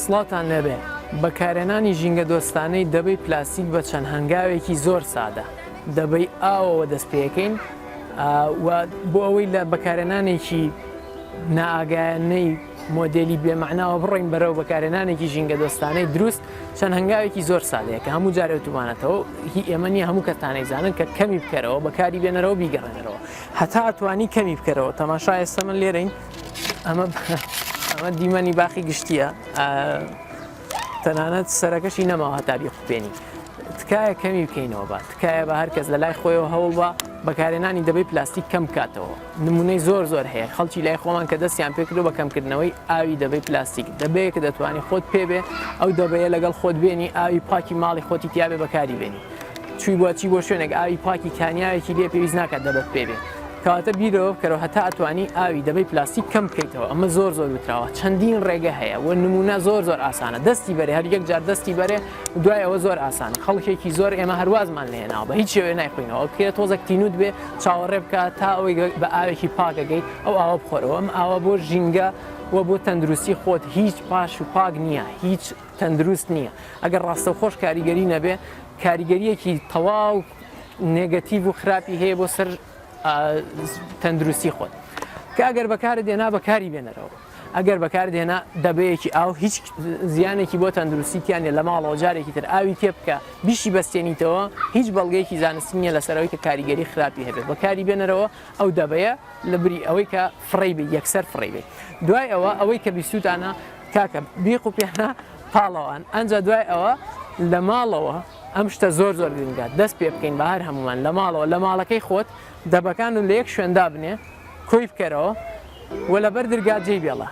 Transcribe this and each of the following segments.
سڵاوتان لێبێ بەکارێنانی ژینگە دۆستانەی دەبەی پلاستیک بە چەند هەنگاوێکی زۆر سادە دەبەی ئاوەوە دەست پێەکەین بۆ ئەوەی لە بەکارێنانێکی نائگایانەی مۆدلی بێمەعناوە بڕین بەرەو بەکارێنانێکی ژینگە دۆستانەی دروست چەند هەنگاوێکی زۆر سادەیە کە هەموو جارێتومانەتەوە هی ئێمەنی هەموو کەتانەی زانن کە کەمی بکەرەوە بەکاری بێنەرەوە بیگەڕێنەرەوە هەتا ئەتوانی کەمی بکەرەوە تەماشا ئێستا من لێرەین ئەمە ئەمە دیمەنی باخی گشتیە تەنانەت سەرەکەشی نەماوە هەتا بیخوپێنی تکایە کەمی بکەینەوە بە تکایە بە هەرکەس لە لای خۆیەوە هەوڵ بە بەکارێنانی دەبەی پلاستیک کەم کاتەوە نمونەی زۆر زۆر هەیە خەڵکی لای خۆمان کە دەستیان پێکردو بە کەمکردنەوەی ئاوی دەبەی پلاستیک دەبەیەکە دەتوانانی خۆت پێبێ ئەو دەبەیە لەگەڵ خۆت بێنی ئاوی پاکی ماڵی خۆتی تیاێ بەکاری بێنی چوی بوە چی بۆ شوێنێک ئاوی پاکی کانیاوێکی لێ پێویست ناکات دەبەت پێ بێ کەواتە بیرەوە بکەرەوە هەتا ئەتوانی ئاوی دەبەی پلاستیک کەم بکەیتەوە ئەمە زۆر زۆر وتراوە چەندین ڕێگە هەیە و نمونە زۆر زۆر ئاسانە دەستی بەرێ هەر یەک جار دەستی بەرێ دوای ئەوە زۆر ئاسانە خەڵکێکی زۆر ئێمە هەروازمان لێناوە بە هیچ شێوێ نایخوینەوە کێ تۆزەک تینوت بێ چاوەڕێ بکە تا ئەوەی بە ئاوێکی پاکەگەی ئەو ئاوە بخۆرەوە ئەم ئاوە بۆ ژینگە و بۆ تەندروستی خۆت هیچ پاش و پاک نییە هیچ تەندروست نییە ئەگەر ڕاستەوخۆش کاریگەری نەبێ کاریگەریەکی تەواو نێگەتیڤ و خراپی هەیە بۆ سەر تەندروستی خۆت کە ئەگەر بەکارە دێنا بەکاری بێنەرەوە ئەگەر بەکار دێنا دەبەیەکی ئاو هیچ زیانێکی بۆ تەندروستیتیانە لە ماڵەوە جارێکی تر ئاوی تێ بکە بیشی بەستێنیتەوە هیچ بەڵگەیەکی زانستی نیە لەسەرەوەی کە کاریگەری خراپی هەبێت بەکاری بێنەرەوە ئەو دەبەیە لە بری ئەوەی کە فڕی بێ یەکسەر فڕی بێت دوای ئەوە ئەوەی کە بیستوتانە کاکە بی قوپیانە پاڵەوان ئەنجا دوای ئەوە لە ماڵەوە ئەم شتە زۆر زۆر گرنگە دەست پێ بکەین بە هەر هەمومان لە ماڵەوە لە ماڵەکەی خۆت دەبەکان و لە یەک شوێندا بنێ کۆی بکەرەوە و لەبەر درگا جێی بێڵە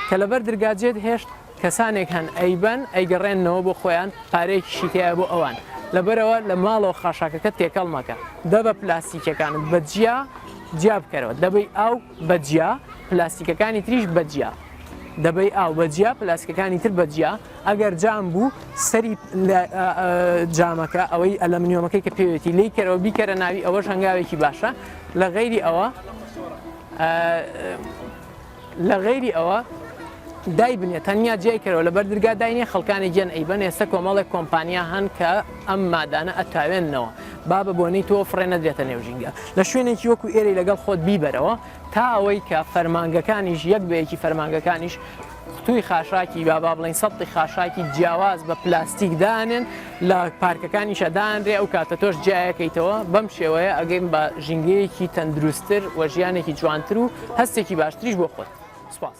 کە لەبەر درگا جێت هێشت کەسانێک هەن ئەیبەن ئەیگەڕێنەوە بۆ خۆیان پارەیەکیشی تایە بۆ ئەوان لەبەرەوە لە ماڵەوە خاشاکەکە تێکەڵ مەکە دە بە پلاستیکەکان بەجیا جیا بکەرەوە دەبی ئاو بەجیا پلاستیکەکانی تریش بەجیا دەبەی ئاو بە جیا پلاسکەکانی تر بە جیا ئەگەر جام بوو سەری جامەکە ئەوەی ئەلەمنیۆمەکەی کە پێوێتی لی کەرەوە بیکەرە ناوی ئەوەش هەنگاوێکی باشە لە غەیری ئەوە لە غەیری ئەوە دای بنێ تەنیا جیای کەەوە لە بەر دررگا داینێ خەڵکانی گەن ئەیبەن ئێستا کۆمەڵێک کۆمپانیا هەن کە ئەم مادانە ئەتاوێنەوە بابە بۆنەی تۆ فڕێ نەدرێتە نێو ژینگە لە شوێنێکی وەکو ئێرەی لەگەڵ خۆت بیبەرەوە تا ئەوەی کە فەرمانگەکانیش یەک بە یەکی فەرمانگەکانیش قوتووی خاشاکی با با بڵین سەتی خاشاکی جیاواز بە پلاستیک دانێن لە پارکەکانیشە دانرێ ئەو کاتە تۆش جیایەکەیتەوە بەم شێوەیە ئەگەین بە ژینگەیەکی تەندروستتر و ژیانێکی جوانتر و هەستێکی باشتریش بۆ خۆت سپاس.